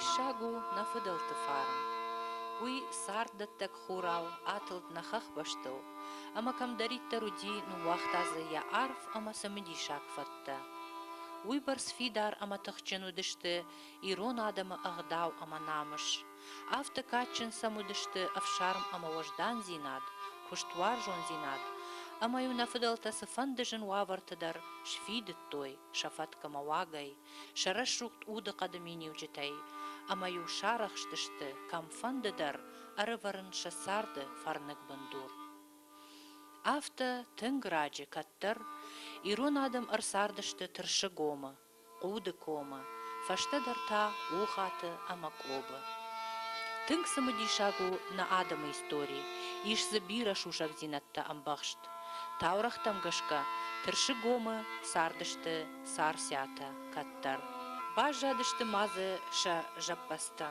Диссаг у нӕ фыдӕлты фарн. Уый царддӕттӕг хурау атылд нӕ хӕхбӕстыл, ӕмӕ кӕмдӕриддӕр уыди, ныууагъта дзы йӕ арф ӕмӕ цымыдисаг фӕд. хъуыддӕгтӕ. Уыйбӕрц фидар ӕмӕ тыхджын уыдысты ирон адӕмы ӕгъдау ӕмӕ намыс. Афтӕ кадджын сӕм уыдысты ӕфсарм ӕмӕ уӕздандзинад, куыстуарзондзинад, ӕмӕ-иу нӕ фыдӕлтӕ цыфӕнды зын уавӕрты дӕр сфидыдтой сӕ фӕткъмӕ уагӕй, сӕ рӕсугъд удыхъӕды миниуджытӕй, ӕмӕ-иу сарӕхстысты, кӕмфӕнды дӕр ӕрывӕрын сӕ царды фӕрныг бындур. Афтӕ тынг раджы кӕддӕр ирон адӕм ӕрцардысты Тырсыгомы, Хъуды комы, фӕстӕдӕр та Ухаты ӕмӕ Къобы. Тынг цымыдисаг у нӕ адӕмы истори, ис дзы бирӕ сусӕгдзинӕдтӕ ӕмбӕхст. Таурӕгътӕм гӕсгӕ, Тырсыгомы цардысты Царциатӕ кӕддӕр. Баззадысты ма дзы сӕ зӕппӕдзтӕ.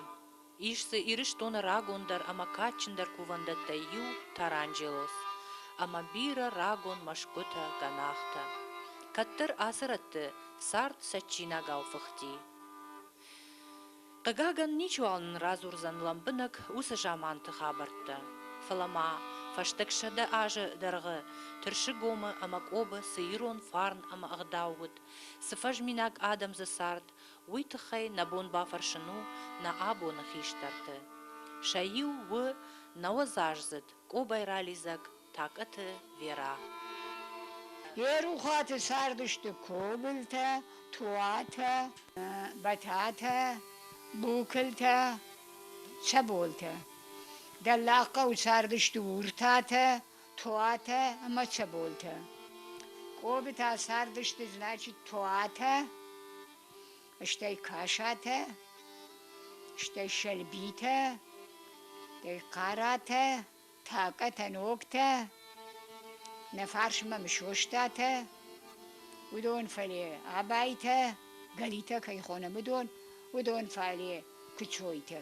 Ис дзы Ирыстоны рагондӕр ӕмӕ кадджындӕр кувӕндӕттӕй иу, таранджелос, ӕмӕ бирӕ рагон мӕсгуытӕ, гӕнахтӕ. Кӕддӕр ацы рӕтты цард цӕджджинагау фыхти. Хъыгагӕн, ничиуал нын радзурдзӕн лӕмбынӕг уыцы заманты хабӕрттӕ, фӕлӕ ма фӕстаг сӕдӕ азы дӕргъы Тырсыгомы ӕмӕ Къобы цы ирон фарн ӕмӕ ӕгъдау уыд, цы фӕзминаг адӕм дзы цард, Уый тыххӕй нӕ бон бафӕрсын у нӕ абоны хистӕрты. Сӕ иу у нӕуӕдзаздзыд къобайралидзӕг Такъыты Вера. Йӕ рухаты цардысты Кобылтӕ, Туатӕ, Бӕтӕтӕ, Букылтӕ, Цӕболтӕ. Дӕллагхъӕуы цардысты Уртатӕ, Туатӕ ӕмӕ Чаболтӕ. Къобитӕ цардысты, значит, Туатӕ, стӕй Касатӕ, стӕй Сӕлбитӕ, стӕй Хъаратӕ, Такъӕтӕ, Ногтӕ, нӕ фарсмӕ Мысостатӕ, уыдон фале Абайтӕ, Галитӕ кӕй хонӕм, уыдон, уыдон фале Кучойтӕ.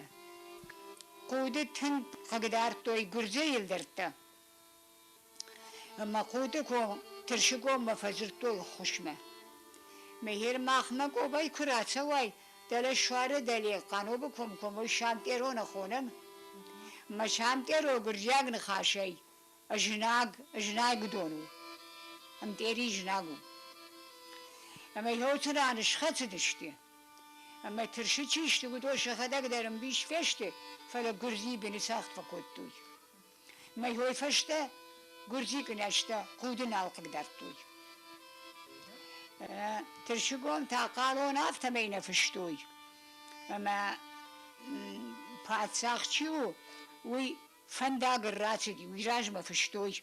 Хъуды тынг хъыгдардтой гуырдзыйы лдӕрттӕ. Ӕмӕ Хъуды ком, Тырсыгоммӕ фӕдзырдтой хусмӕ. Мехер махмӕ Къобай куы рацӕуай, дӕлӕ суары дӕле Хъанобы комкоммой самтъероны хонӕм. Мӕ самтъеро гуырдзиаг ныхасӕй. Знаг, знаг уыдон у. Ӕмтъери знаг у. Ӕмӕ йоты раны схӕцыдысты. Ӕмӕ тырсы чи сты, уыдон сӕхӕдӕг дӕр ӕмбис фесты, фӕлӕ гуырдзи быны цӕхх фӕкодтой. Мӕ хой фӕстӕ гуырдзи кънӕзтӕ худы нал хъыгдардтой. Тырсыгон та хъалон афтӕмӕй нӕ фыстой. Ӕмӕ паддзах чи у, уый Фӕндагыл рацыди, уый размӕ фыстой,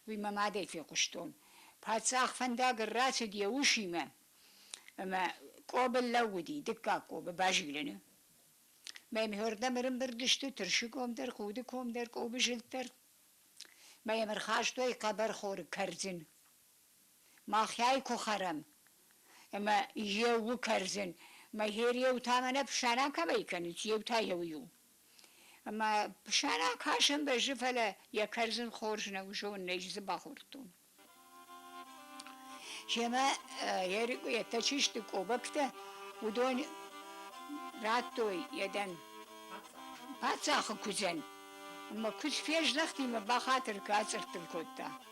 уый мӕ мадӕй фехъуыстон. Паддзах фӕндагыл рацыд йӕ усимӕ, ӕмӕ Къобыл лӕууыди, дыккаг Къобы, Базилыны. Мӕмхӕрдӕм ӕрымбырд сты Тырсы ком дӕр, Худы ком дӕр, Къобы зылд дӕр. Мӕ йӕм ӕрхастой хъӕбӕрхоры кӕрдзын. Махӕй куы хӕрӕм, ӕмӕ еу кӕрдзын, мӕ хер еу та мӕнӕ фсарӕ кӕмӕй кӕнынц, еу та еу иу. Ӕмӕ сӕрӕн кӕсын бӕззы, фӕлӕ йӕ кӕрдзын хорз нӕу, зон, ӕй дзы бахордтон. Семӕ Ерикъуйӕттӕ чи сты, къобӕгтӕ, уыдон радтой йӕ дӕн паддзахы куыдзӕн. Ӕмӕ куыдз фездӕхти мӕ бахатыр кӕ, ацъырттын кодта.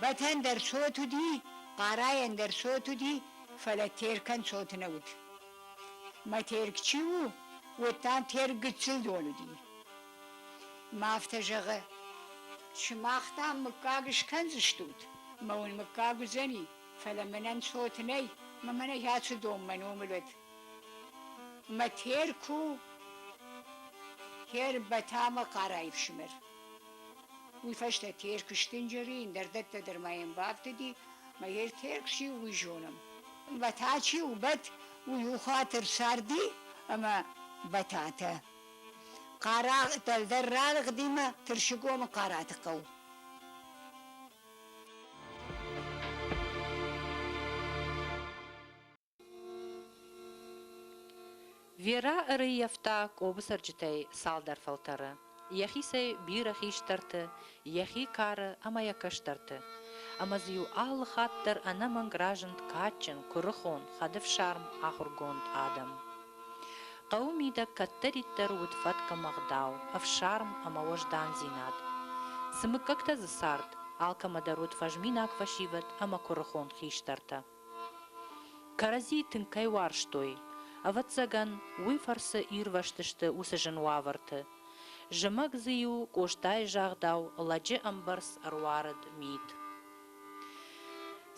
Бӕтӕн дӕр цот уыди, хъарайӕн дӕр цот уыди, фӕлӕ Теркӕн цоты нӕ уыд. Мӕ Терк чи у, уӕд дам Терк гыццыл дон уыди. Мӕ афтӕ зӕгъы, сымах дам мыггаг скӕндзыстут, мӕ уын мыггаг уыдзӕни, фӕлӕ мӕнӕн цоты нӕй, мӕ мӕнӕ ацы донмӕ номыл уӕд. Мӕ Терку Тербӕтӕ ӕмӕ хъӕрӕй ӕфсымӕр. Уый фӕстӕ Терк сдынджыри, ӕндӕр дӕттӕ дӕр ма йӕм бафтыди, мӕ йе Терк чи у, уый зонӕм. Бӕтӕ чи у, бӕт, уый у хатыр сарди ӕмӕ бӕтӕтӕ. Хъара дӕлдӕр ралыгъди мӕ Тырсыгомы Хъараты хъӕу. Верӕ ӕрыййӕфта Къобы цӕрджытӕй цалдӕр фӕлтӕры, йӕхицӕй бирӕ хистӕрты, йӕхи кары ӕмӕ йӕ кӕстӕрты. Ӕмӕ дзы-иу алы хатт дӕр ӕнӕмӕнг разынд кадджын, куырыхон, хӕдыфсарм, ахуыргонд адӕм. Хъӕуы мидӕг кӕддӕриддӕр уыд фӕткъуымӕгъдау, ӕфсарм ӕмӕ уӕздандзинад. Цы мыггӕгтӕ дзы цард, алкӕмӕ дӕр уыд фӕзминаг фӕсивӕд ӕмӕ куырыхон хистӕртӕ. Кӕрӕдзи тынг кӕй уарзтой, ӕвӕццӕгӕн, уый фӕрцы ирвӕзтысты уыцы зын уавӕрты. Зымӕг дзы-иу Къостайы загъдау лӕджы ӕмбӕрц ӕруарыд мит.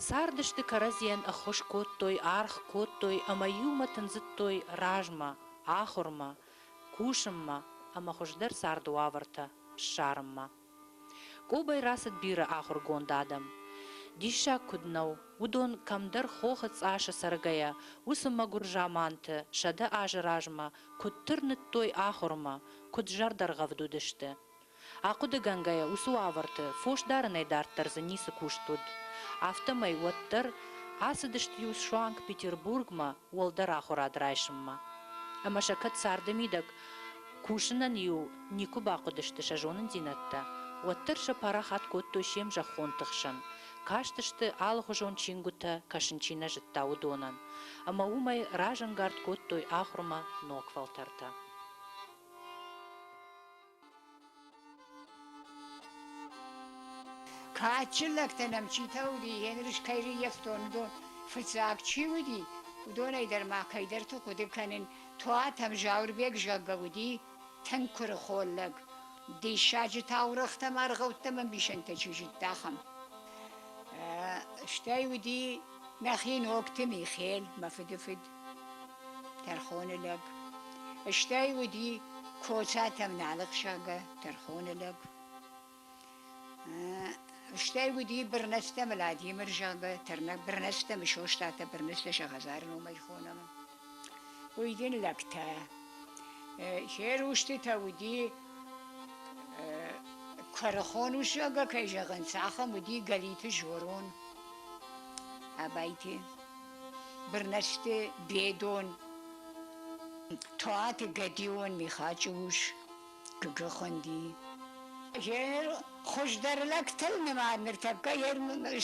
Цардысты кӕрӕдзийӕн ӕххуыс кодтой, аргъ кодтой ӕмӕ иумӕ тындзыдтой размӕ, ахуырмӕ, кусынмӕ ӕмӕ хуыздӕр царды уавӕртӕ ссарынмӕ. Къобӕй рацыд бирӕ ахуыргонд адӕм. Диссаг куыд нӕу, уыдон, кӕмдӕр хохы цъасы цӕргӕйӕ, уыцы мӕгуыр заманты, сӕдӕ азы размӕ, куыд тырныдтой ахуырмӕ, куыд зӕрдӕргъӕвд уыдысты. Ахъуыдыгӕнгӕйӕ, уыцы уавӕрты фос дарынӕй дарддӕр дзы ницы куыст уыд. Афтӕмӕй уӕддӕр ацыдысты-иу Суанг-Петербургмӕ уӕлдӕр ахуырад райсынмӕ. Ӕмӕ сӕ кӕд царды мидӕг Кусынӕн-иу никуы бахъуыдысты сӕ зонындзинӕдтӕ, уӕддӕр сӕ парахат кодтой се мзӕххонты хсӕн, кастысты, алыхуызон чингуытӕ кӕсын чи нӕ зыдта, уыдонӕн, ӕмӕ уымӕй разӕнгард кодтой ахуырмӕ ног фӕлтӕртӕ. Кадджын лӕгтӕн ӕмчитӕ уыди, Генрich кӕй рыййӕфтон, уыдон фыццаг чи уыди, уыдонӕй дӕр ма кӕйдӕрты хъуыды кӕнын, Туатӕм Зауырбег зӕггӕ уыди тынг куырыхон лӕг. Диссаджы таурӕгътӕм, аргъӕуттӕм ӕмбисӕндтӕ чи зыдта, ахӕм. Стӕй уыди нӕхи ногты Михел, мӕ фыды фыд. Тӕрхоны лӕг. Стӕй уыди Коцатӕм налыхсагӕ тӕрхоны лӕг. Стӕй уыди Бырнӕстӕм Владимырзагӕ тырнӕг Бырнӕстӕм Состатӕ Бырнӕслӕсӕ хӕдзары номӕй хонӕм. Уый дин лӕгтӕ. Се рустытӕ уыди Кърыхон усагӕ кӕй зӕгъын, цахӕм уыди Галиты Жорон, Абайти. Бырнӕсты Бедон, Туаты Гӕдион Михачы ус Гыгы хуынди. Йе хуыздӕр лӕгтыл нымад ныртӕккӕ йе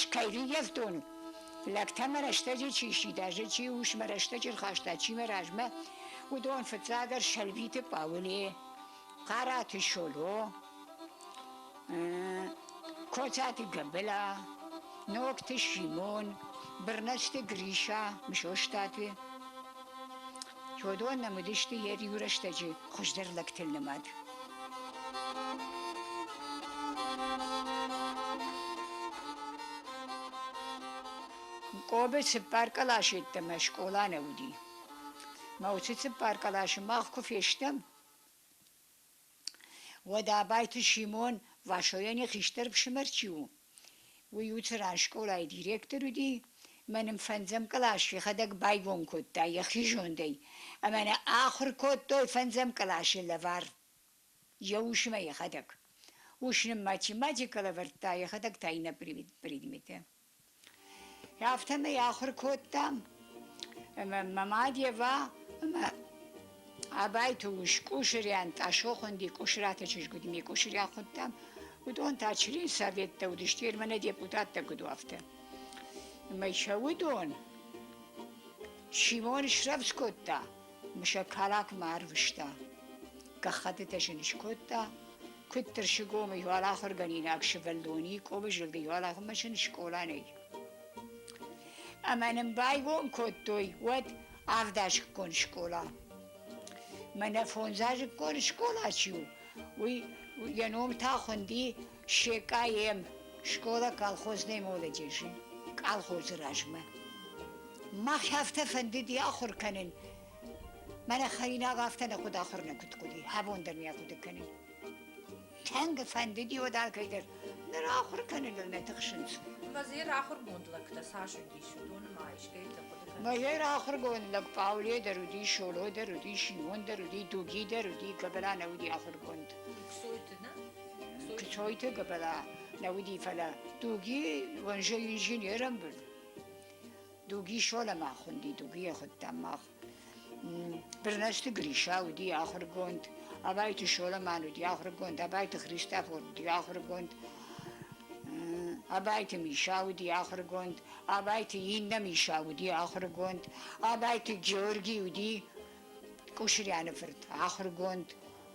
скайриййӕфтон лӕгтӕмӕ рӕстӕджы чи сидажы, чи усмӕ рӕстӕджы рхаста, чи мӕ размӕ, уыдон фыццагдӕр Сӕлбиты Пъауыле, Хъарати Шоло, Коцати Габела, Ногты Симон, Бырнӕцты Гриша, Мысостаты. Уыдон нӕм уыдысты йӕ риу рӕстӕджы хуыздӕр лӕгты нымад. Къобы цыппар кълас йеддӕмӕ скъола нӕ уыди. Мӕ уыцы цыппар къласы мах куы фестӕм, Уӕдӕ Абайты Симон Васойӕн йӕ хистӕр фсымӕр чи у, уый у цыран скъолайы директор уыди, мӕ нын фӕндзӕм кълас йӕхӕдӕг байгом кодта йӕхи зондӕй, ӕмӕ нӕ ахуыр кодтой фӕндзӕм къласы лӕвар. Йӕ усмӕ йӕхӕдӕг. Ус нын математикӕ лӕвӕрдта, йӕхӕдӕг та иннӕ предметы. Афтӕмӕй ахуыр кодтам ӕмӕ мӕ мад Ева ӕмӕ Абайты ус Къусырӕн Тъасохъуынди Къусыраты чызг уыд, ми Къусырӕ хуыдтам, уыдон та член советтӕ уыдысты, ere мӕнӕ депутаттӕ куыд уафтӕ. Ӕмӕ сӕ уыдон Симон срӕвдз кодта. Мсӕккалакмӕ арвыста. Гӕххӕттытӕ сын скодта, куыд Тырсыгомы иуал ахуыргӕнинаг сывӕллони Къобы зылды иуал ахуырмашин скъола нӕй. Ӕмӕ нын байгом кодтой уӕд авдазыкгон скъола. Мӕнӕ фондзазыкгон скъола чи у, уый йӕ ном та хуынди Секъайӕн скъола колхозной молодежи, колхозы размӕ. Мах афтӕ фӕндыди ахуыр кӕнын. Мӕнӕ хӕринаг афтӕ нӕ хъуыд ахуыр нӕ куыд хъуыди, абон дӕр не хъуыды кӕнын. Тӕнг фӕндыди уӕд алкӕйдӕр ныр ахуыр кӕныныл нӕ тыхсынц. Мазер ахуыргонд лӕгтӕ цас уыдис, уыдоны ма искӕйты хъуыды кӕныс? Мазер ахуыргонд лӕг Пауле дӕр уыди, Шоло дӕр уыди, Шимон дӕр уыди, Дуги дӕр уыди, кӕд ра нӕ уыди ахуыргонд. Ксойты, нӕ? Кичойте габала навиди фала дуги ванжа инженерам бун. Дуги шола махунди, дуги ехудтан мах. Бернашти Гриша уди ахургонд, абайти шоламан уди ахургонд, абайти Христофор уди ахургонд, абайти Миша уди ахургонд, абайти Инна Миша уди ахургонд, абайти Георгий уди Кушряны фырт ахургонд,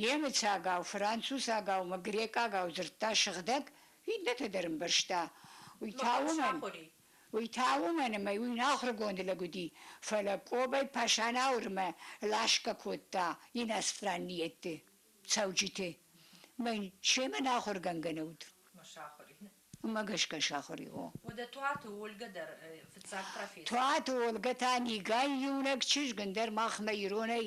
Немыцагау, францусагаумӕ грекъагау дзырдта сыгъдӕг, иннӕты дӕр ӕмбӕрста. Уый та уымӕн, уый та уымӕн ӕмӕ уый нӕ ахуыргонды лӕг уыди, фӕлӕ Къобӕй Пашанаурмӕ ласгӕ кодта иностранниетты цӕуджыты. Мӕн семӕ нӕ ахуыргӕнгӕ нӕ уыд. Уымӕ гӕсгӕ сахуыр и, о. Уӕдӕ Туаты Олгӕ дӕр фыццаг профессор. Туаты Олгӕ та Нигӕйы иунӕг чызг, ӕндӕр махмӕ, иронӕй.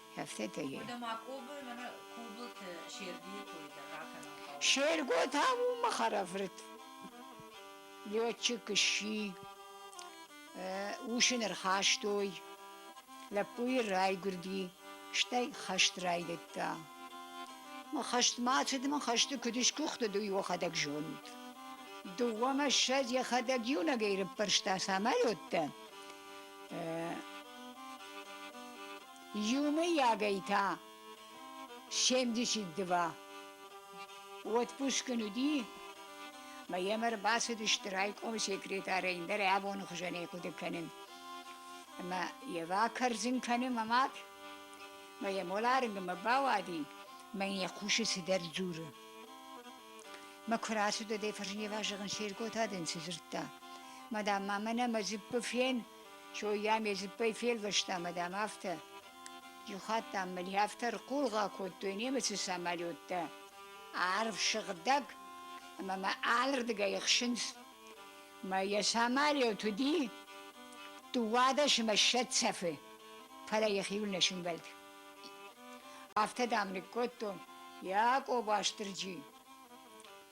Афтӕ Уӕдӕ ма Кобы мӕнӕ Кобылты Сергейы кой дӕр ракӕнын хъӕуы. Серго та у мӕ хӕрӕфырт. Летчик сси. Ус ын ӕрхастой. Лӕппуйы райгуырди, стӕй хӕст райдыдта. Мӕ хӕст ма цыд, мӕ хӕсты куыд сгуыхтыд, уый йӕхӕдӕг зонд. Дыууӕ мӕссӕд йӕхӕдӕг иунӕгӕй рыппӕрста самолеттӕ. Иумӕйагӕй та семдесят два отпуск ын уыди, мӕ йӕм ӕрбацыдысты райкомы секретарӕн дӕр йӕ абоны хуызӕн ӕй хъуыды кӕнын. Ӕмӕ йӕ бакӕрдзын кӕны мӕ мад, мӕ йӕ моларынгмӕ бауади, мӕ йын йӕ хъусы цыдӕр дзуры. Мӕ куы рацыд уӕд ӕй Фӕрнева зӕгъын, Серготӕ дын цы дзырдта? Мадам, ма мӕнӕ мӕ дзыппы фен, Чой йӕм йӕ дзыппӕй фелвӕста мӕ дам афтӕ: Иу хатт дам мыл йӕ афтӕ рхъулгъа кодтой немыцы самолеттӕ, арв сыгъдӕг ӕмӕ мӕ алырдыгӕй ӕхсынц. Мӕ йӕ самолет уыди дыууадӕсмӕ ссӕ цӕфы, фӕлӕ йӕхиуыл нӕ сӕмбӕлд. Афтӕ, дам, ныккодтон йӕ Къоба Стырджи.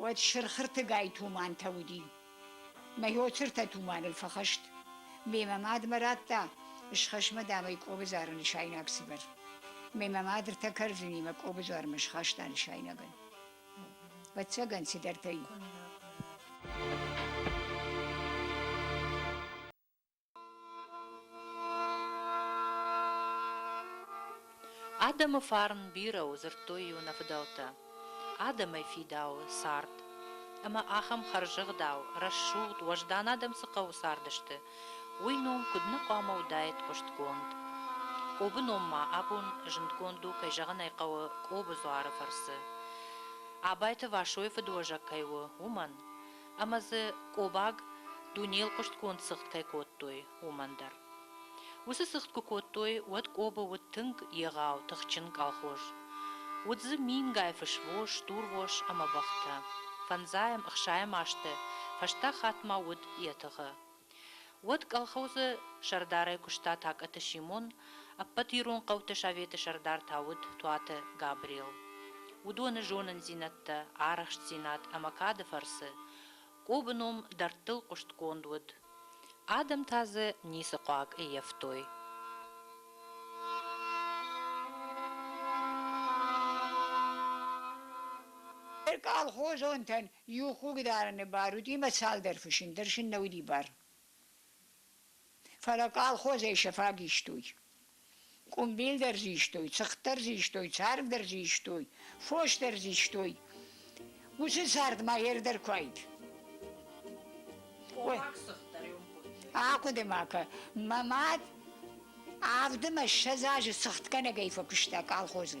уӕд сырхыртыгай тумантӕ уыди. Мӕ йоцыртӕ туманыл фӕхӕст. Мемӕ мадмӕ радта схӕсмӕ дӕмӕй къобызары нысайнаг цыбыр. Мемӕ мадыртӕ кӕрдзыни мӕ къобызармӕ схаста нысайнагӕн. Вӕццӕгӕн цыдӕртӕй. Адӕмы фарн бирӕ у, дзырдтой-иу нӕ фыдӕлтӕ. Адӕмӕй фидауы цард. Ӕмӕ ахӕм хӕрзӕгъдау, рӕсугъд, уӕздан адӕм цы хъӕуы цардысты, уый ном куыд нӕ хъуамӕ уыдаид хъуыстгонд. Къобы ном ма абон зындгонд у, кӕй зӕгъын ӕй хъӕуы, Къобы дзуары фӕрцы. Абайты Васойы фыдуӕзӕг кӕй у, уымӕн. ӕмӕ дзы Къобаг дунейыл хъуыстгонд цыгъд кӕй кодтой, уымӕн дӕр. Уыцы цыгъд куы кодтой, уӕд Къобы уыд тынг егъау, тыхджын колхоз. Уыд дзы мингай фысвос, дурвос ӕмӕ бӕхтӕ. Фӕндзайӕм, ӕхсайӕм азты фӕстӕ хатт ма уыд йӕ тыгъы, Уӕд колхозы сӕрдарӕй куыста Такъаты Симон, ӕппӕт ирон хъӕуты советы сӕрдар та уыд Туаты Габрел. Уыдоны зонындзинӕдтӕ, арӕхстдзинад ӕмӕ кады фӕрцы Къобы ном дӕрдтыл хъуыстгонд уыд. Адӕм та дзы ницы хъуаг ӕййӕфтой. Колхозонтӕн Иу хугдарӕны бар уыди ӕмӕ цалдӕр фысым дӕр сын нӕ уыди бар. Фӕлӕ колхозӕй сӕ фаг истой. Къуымбил дӕр зы истой, цыхт дӕр зы истой, царв дӕр зы истой, фос дӕр зы истой. Уыцы цард ма ер дӕр куы айд. Ой. Ахъуыды ма кӕ. Мӕ мад авдымӕ ссӕдз азы цыхтгӕнӕгӕй фӕкуыста колхозы.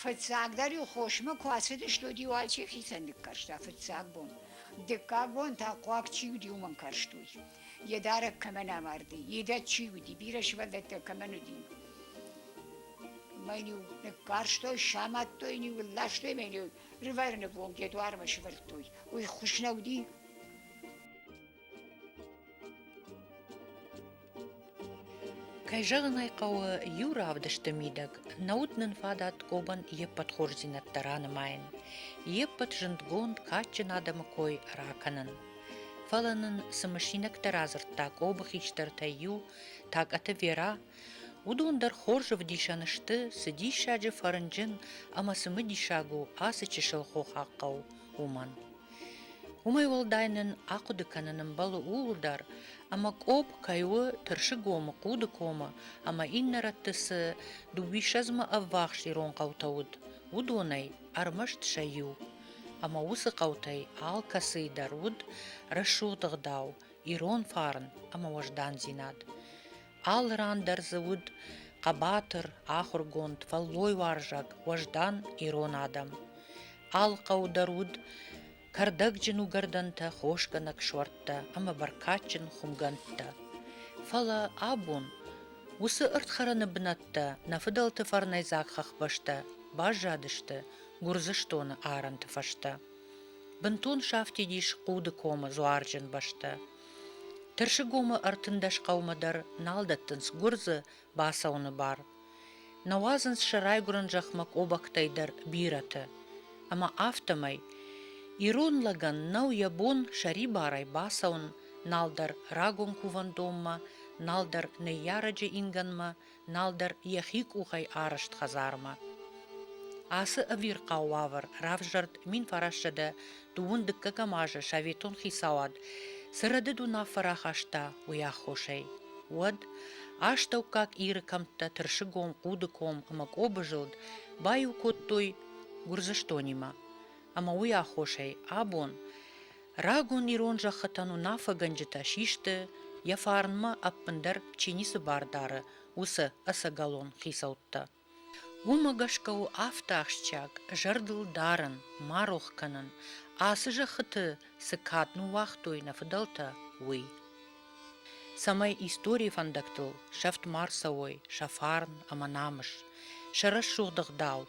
Фыццагдӕр-иу хосмӕ куы ацыдыстут, иу ачи хицӕн ныккӕрста фыццаг бон. Дыккаг бон та хъуаг чи уыди, уымӕн карстуй. Йе дарӕг кӕмӕн амарди, идӕд чи уыди, бирӕ сывӕллӕттӕ кӕмӕн уыди. Мӕн-иу ныккарстой, самадтой, иу ластой, мӕн-иу рывӕрныгонг йӕ дуармӕ сывӕрдтой. Уый хуыз нӕ уыди? Кӕй зӕгъын ӕй хъӕуы, иу равдысты мидӕг нӕ уыд нын фадат Къобан йе ппӕт хорздзинӕдтӕ ранымайын, йе ппӕт зындгонд, кадджын адӕмы кой ракӕнын. Фӕлӕ нын цы мысинӕгтӕ радзырдта Къобы хистӕртӕй иу, Тӕкъаты Вера, уыдон дӕр хорз ӕвдисӕн сты, цы диссаджы фӕрнджын ӕмӕ цымыдисаг у ацы чысыл хохаг хъӕу, уымӕн. Уымӕй уӕлдай нын ахъуыды кӕнын ӕмбӕлы ууыл дӕр, ӕмӕ къопп кӕй у Тырсыгомы, Хъудыкомы ӕмӕ иннӕ рӕтты цы дыууиссӕдзмӕ ӕввахс ирон хъӕутӕ уыд, уыдонӕй ӕрмӕст сӕ иу. Ӕмӕ уыцы хъӕутӕй алкӕцыйы дӕр уыд рӕсугъд ӕгъдау, ирон фарн ӕмӕ уӕздандзинад. Алы ран дӕр дзы уыд хъӕбатыр, ахуыргонд, фӕллойуарзаг, уӕздан ирон адӕм. Алы хъӕу дӕр уыд кӕрдӕгджын уыгӕрдӕнтӕ, хосгӕнӕг суӕрттӕ ӕмӕ бӕркадджын хуымгӕндтӕ. Фӕлӕ абон уыцы ӕрдхӕрӕны бынӕттӕ нӕ фыдӕлты фӕрнӕйдзаг хӕхбӕстӕ баззадысты Гуырдзыстоны арӕнты фӕстӕ. Бынтон сафтид ис Хъуды комы дзуарджын бӕстӕ. Тырсыгомы ӕртындӕс хъӕумӕ дӕр нал дӕттынц гуырдзы бацӕуыны бар. Нӕ уадзынц сӕ райгуырӕн зӕхмӕ къобӕгтӕй дӕр бирӕты. Ӕмӕ афтӕмӕй ирон лӕгӕн нӕу йӕ бон сӕрибарӕй бацӕуын, нал дӕр рагон кувӕндонмӕ, нал дӕр ныййарӕджы ингӕнмӕ, нал дӕр йӕхи къухӕй арызт хӕдзармӕ. Ацы ӕвирхъау уавӕр равзӕрд мин фарассӕдӕ дыууын дыккӕгӕм азы советон хицауад цы рӕдыд уынаффӕ рахаста, уый аххосӕй. Уӕд астӕуккаг иры кӕмттӕ Тырсыгом, Хъудыком ӕмӕ Къобызылд баиу кодтой Гуырдзыстонимӕ, ӕмӕ уый аххосӕй абон Рагон ирон зӕххытӕн уынаффӕгӕнджытӕ систы, йӕ фарнмӕ ӕппындӕр чи ницы бар дары, уыцы ӕцӕгӕлон хицӕуттӕ. Уымӕ гӕсгӕ у афтӕ ахсджиаг зӕрдыл дарын, ма рох кӕнын, ацы зӕххыты цы кад ныууагътой нӕ фыдӕлтӕ, уый. цӕмӕй историйы фӕндӕгтыл сӕфт ма рцӕуой сӕ фарн ӕмӕ намыс, сӕ рӕсугъд ӕгъдау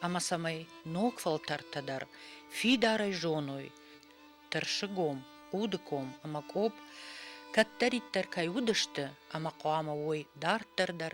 ӕмӕ цӕмӕй ног фӕлтӕртӕ дӕр фидарӕй зоной, тырсыгом, удыком ӕмӕ къоб кӕддӕриддӕр кӕй уыдысты ӕмӕ хъуамӕ уой дарддӕр дӕр